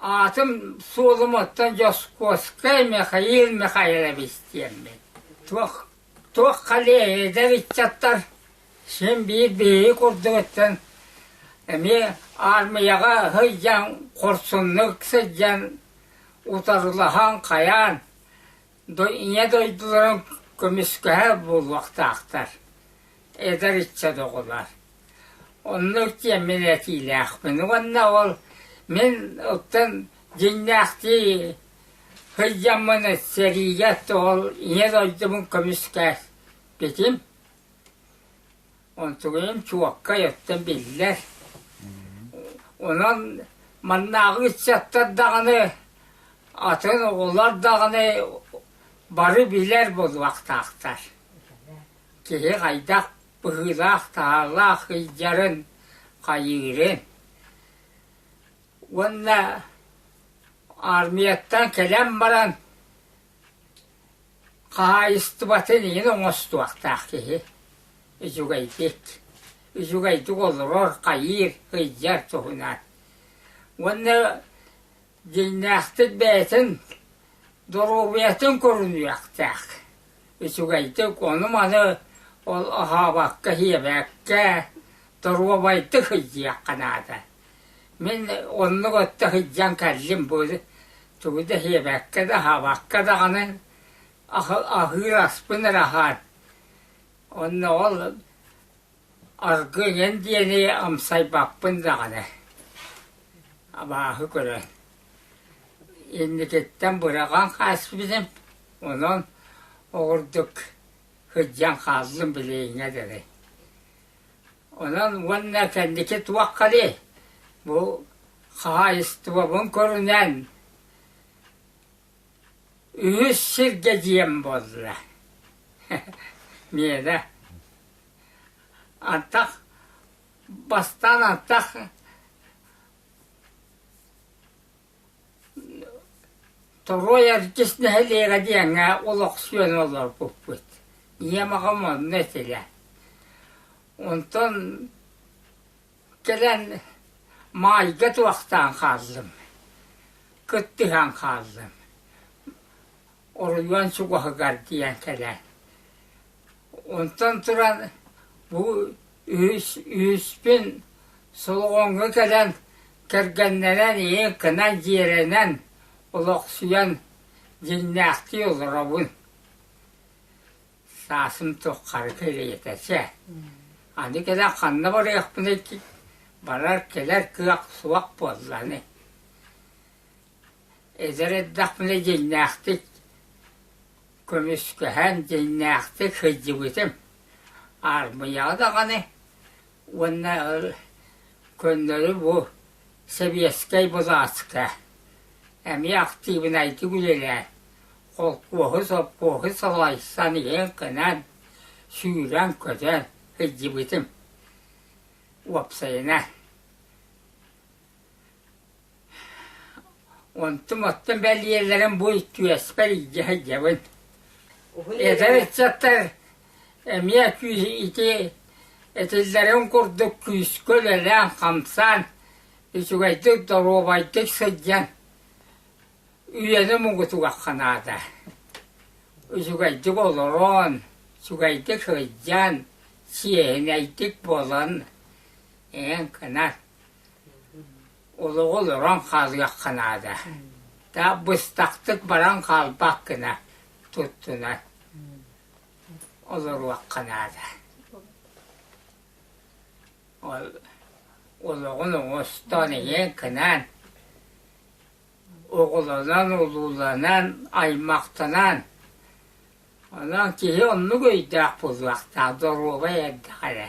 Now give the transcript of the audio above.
Аатым суолум оттон Дьоскуоскай Михаил Михайлович диэммин. Туох туох халей эдэр ыччаттар син биир биһиги курдугуттан эмиэ аармыйаҕа сылдьан, хорсуннук сылдьан, утарылаһан, хайаан Ийэ дойдуларын көмүскэһэр буолуохтаахтар, эдэр ыччат оҕолор. Онно иккиэммин этиилээхпин уонна ол мин оттон дьиҥнээхтии сылдьаммын сэриигэ тоҕо ийэ дойдубун көмүскээспитим Онтугуйам чуоккай оттон биллэр. Онон маннааҕы ыччаттар даҕаны, атын оҕолор даҕаны бары билэр буолуохтаахтар. Киһи хайдах быһыылаах-таһаалаах сылдьарын, хайыырын. Уонна армияттан кэлэн баран Хаһаайыстыбатын иһин оҥостуохтаах киһи үчүгэйдик, үчүгэйдик олорор, хайыыр, сыдьар туһунан. Уонна дьиҥнээхтик бэйэтин доруобуйатын көрүнүөхтээх, үчүгэйдик ону-маны оһообокко, иһиэбэккэ, доруобайдык сылдьыахха наада. Мин оннук отто сылдьан кэллим бу тугу да сиэбэккэ да аһаабакка даҕаны аһыыр аспын эрэ аһаан онно ол аргыын эн диэни амсайбаппын даҕаны абааһы көрөн инникиттэн быраҕан хаалбытым онон оҕурдук сылдьан хааллым билиҥҥэ дылы Онон уонна кэнники туохханый? Бу хаһаайыстыбабын көрүнэн үһүс сиргэ дьиэм буолла. Миэнэ антах бастаан антах Торуой артыыс нэһилиэгэ диэҥҥэ олохсуйан олорбуппут. Ийэм аҕам онно этилэр. Онтон кэлэн маайга туохтаан хааллым, кыттыһан хааллым. оройуон чугаһыгар тиийэн кэлэн. Онтон туран бу үһүс үһүспүн Солоҕоҥҥо кэлэн кэргэннэрэн ийэ кынан дьиэрэнэн олохсуйан дьиҥнээхтии олоробун. Саасым туххары кэлиэтэчэ. Аны кэлэн ханна барыахпыный барар кэлэр кыах суох буолланы. Эдэр эрдэхпинэ дьиҥнээхтик көмүскэһэн, дьиҥнээхтик сылдьыбытым. Аармыйаҕа даҕаны уонна көннөрү бу сэбиэскэй былааска эмиэ актыыбынайдык үлэлээн, холкуоһу, сопхуоһу салайсан, иһэн-хэнэн, сүүрэн-көтөн сылдьыбытым. Уопсайынан Онтум-оттум бэлиэлэрин бу иккиуэспэр илдьэ сылдьабын. Эдэр ыччаттар эмиэ күүс ити этиллэрин курдук күүскэ үлэлээн-хамсаан, үчүгэйдик, доруобайдык сылдьан үйэни мугутугахха наада. Үчүгэйдик олорон, үчүгэйдик сылдьан, чиэһинэйдик буолан, эн кынат Олоҕу олорон хаалыахха наада, таап быстахтык баран хаалбаккына туттунар олоруохха наада. Ол олоҕун оҥостоон ийэн кынаан оҕолонон, улууланан, аймахтанан онон киһи оннук өйдөөх буолуохтаах, доруобай эрдэх эрэ.